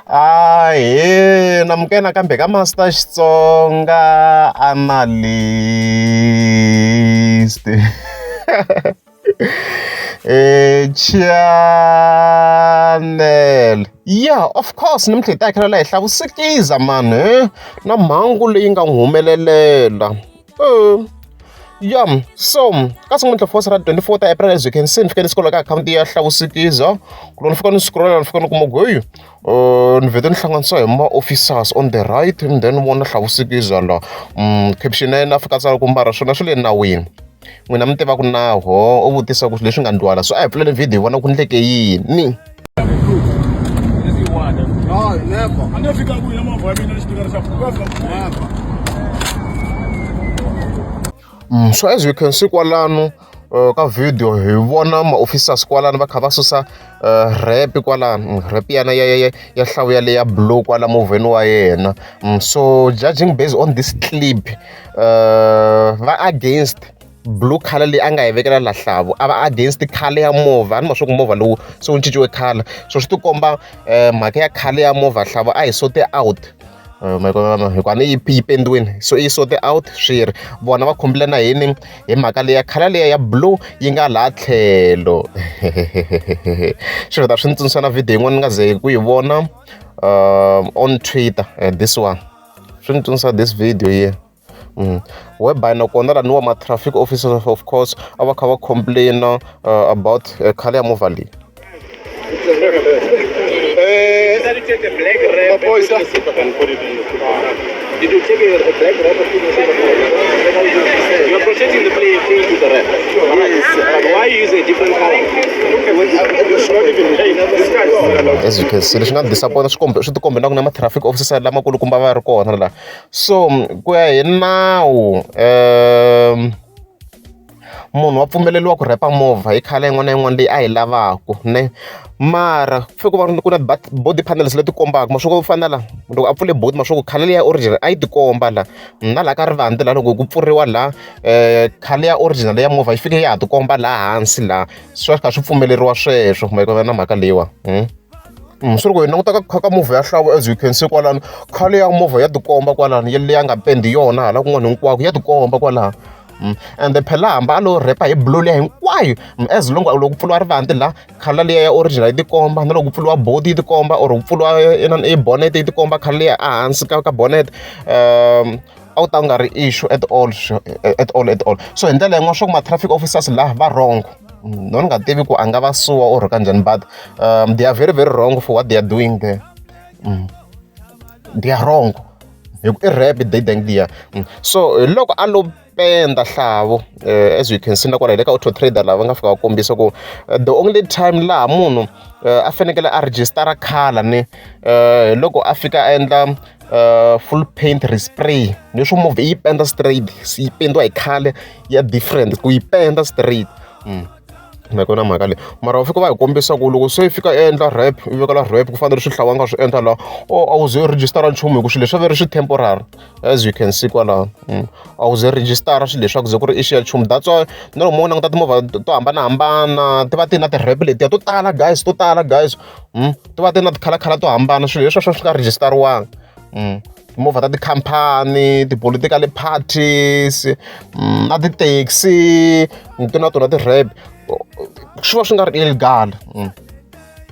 Ahee, namke nakambe ka Master Xitsonga Analyst. Eh channel. Yeah, of course nimtlhe hi ta khela la hi hlavusikiza mani na mhangu leyi nga n'wi humelelela. Oh. Yom, so ka sungula fosi ra 24 ta April ezwi khensi ni fike ni scrolla ka akhawunti ya hlawusikiza ku loko ni fika ni scrolla ni fika ni kuma goyu uh, ni vete ni hlanganisa hi ma-officers on the right and then vona hlawusikiza la um caption ya yena afika tsala ku mbara swona swi le nawini n'wina mi tiva ku naho u vutisa ku leswi nga ndwala so a hi pfulele video vona ku ndleke yini Mm, so as we can see kwalano uh, ka video hi vona maofficers kwalano va kha va susa uh, rep kwalano mm, rep yana ya, ya, ya hlawu ya le ya blow kwala movheni wa yena mm, so judging based on this clip uh, va against blue color leyi a nga yi vekela la hlavu a va against color ya movha a ni ma swa ku movha lowu se wu cinciwe color so swi tikomba um eh, mhaka ya color ya movha hlavu a hi sote out eh, hikuva ni yi yi pendiwini so i sote out swi ri vona va khumbile na hini hi mhaka leya khala leya ya blue yi nga laha tlhelo swi vita swi ni tsundzuxa na video yin'wana ni nga ze ku yi vona um on twitter eh, this one swi ni tsundzuxa this video ye yeah. whereby nakona laniwa ma-traffic officers of course a va kha va complain-a uh, about uh, khale ya movha leyi Did you take a black rap or put yourself You are protecting the player thing to the rap. Yes. But why you use a different color? As you can see, leswi nga disappointa swi kombe swi ti kombe na ku na ma-traffic officer lamakulukumba va ri kona laha So ku ya hi nawu munhu wa pfumeleriwa ku rheyipa movha hi colour yin'wana na yin'wana leyi a yi lavaka ne. Mara ku fanele ku va ku ri na body panels leti kombaka ma swi ku fana na laha loko a pfule boot ma swa ku colour leyi ya original a yi ti komba laha. Na laha ka rivati laha loko ku pfuriwa laha colour ya original ya movha yi fike ya ha ti komba laha hansi laha, swi va swi kha swi pfumeleriwa sweswo na mhaka leyiwani. Mm, swi ri ku hi languta ka kha ka movha ya hlavo as you can see kwalano khale ya movha ya tikomba kwalano ya leya nga pendi yona hala kun'wana hinkwako ya tikomba kwalano mm, and phela hamba a lo repa hi blue leya hinkwayo mm, as long loko ku pfuriwa rivanti la khala leya ya original yi tikomba na loko ku pfuriwa body yi tikomba or ku pfuriwa eh, inana i bonnet yi tikomba khala leya ehansi ka ka bonnet um a wu ta u nga ri issue at all at all at all so hi ndlela yin'wana swa ku ma-traffic officers laha va wrong no ni nga tivi ku a nga va suwa or ka njhani but um, they are very very wrong for what they are doing there mm. they are wrong hi ku i rap they dang dia mm. so hi loko a lo penda hlavo uh, as you can see na kwala hi le ka auto trader lava nga fika va kombisa ku eh, the only time laha munhu uh, a fanekele a registara khala ni uh, loko a fika a endla uh, full paint respray leswo movha yi penda straight yi pendiwa hi khale ya different ku yi penda straight mm. nakona mhaka leyi mara va fika va hi kombisa ku loko se fika endla rap u vekela rap ku fanele swi hlawanga swi endla laha o oh, a wu ze u rejistara nchumu hi ku swilo leswi a ve ri swi temporary as you can see kwalaha mm. a wu ze rejistara swilo leswaku ze ku ri i xiya nchumu that's why na loko mo languta timovha to hambanahambana ti va ti na ti-rap letiya to tala guys to tala guys mm, ti va ti ri na tikhalakhala to hambana swilo leswiwa swi nga rejistariwanga mm, timovha ta tikhampani ti-political parties mm, na ti-taxi ti na tona ti-rab swi va swi nga ri illegal mm.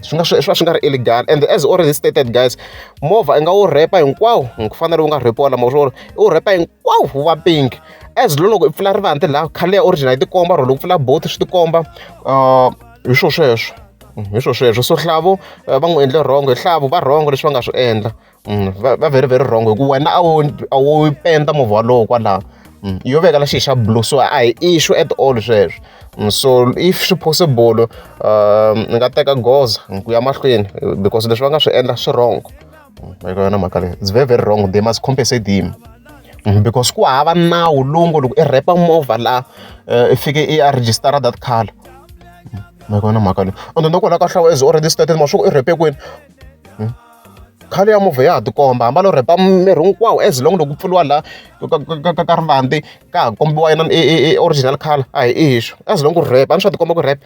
swi nga swi va swi nga ri illegal and as already stated guys movha i nga wu repa hinkwawo ku fanele wu nga repiwa lama swo i wu repa hinkwawo wu va pink as loko i pfula rivanti laha khale ya original yi tikomba or loko pfula both swi tikomba uh, hi swo sweswo mm, hi swo sweswo so hlavu eh, va n'wi endle rhongo hi hlavu va rhongo leswi va nga swi endla mm, va very very rhongo hi ku wena a wo a wo penda movha walowo kwalaho mm, yo veka la xi xa blue so a hi issue at all sweswo so if swi possible um, ni nga teka goza ku ya mahlweni because leswi va nga swi endla swi rhongo hi yona mhaka leyi it's very very wrong they must compensate him mm, because ku hava nawu lowu ngo loko i repa movha laha eh, i fike i ya register that car ma mm, yona mhaka leyi and then kwalaho ka hlawa is already started ma swi ku i repe kwini mm. khale ya movha ya ha tikomba hamba lo repa miri hinkwawo as long loko ku pfuriwa laha ka rivandi ka ha kombiwa yona e, e, e original color a hi i hiswo as long ku repa a ni swa tikomba ku repa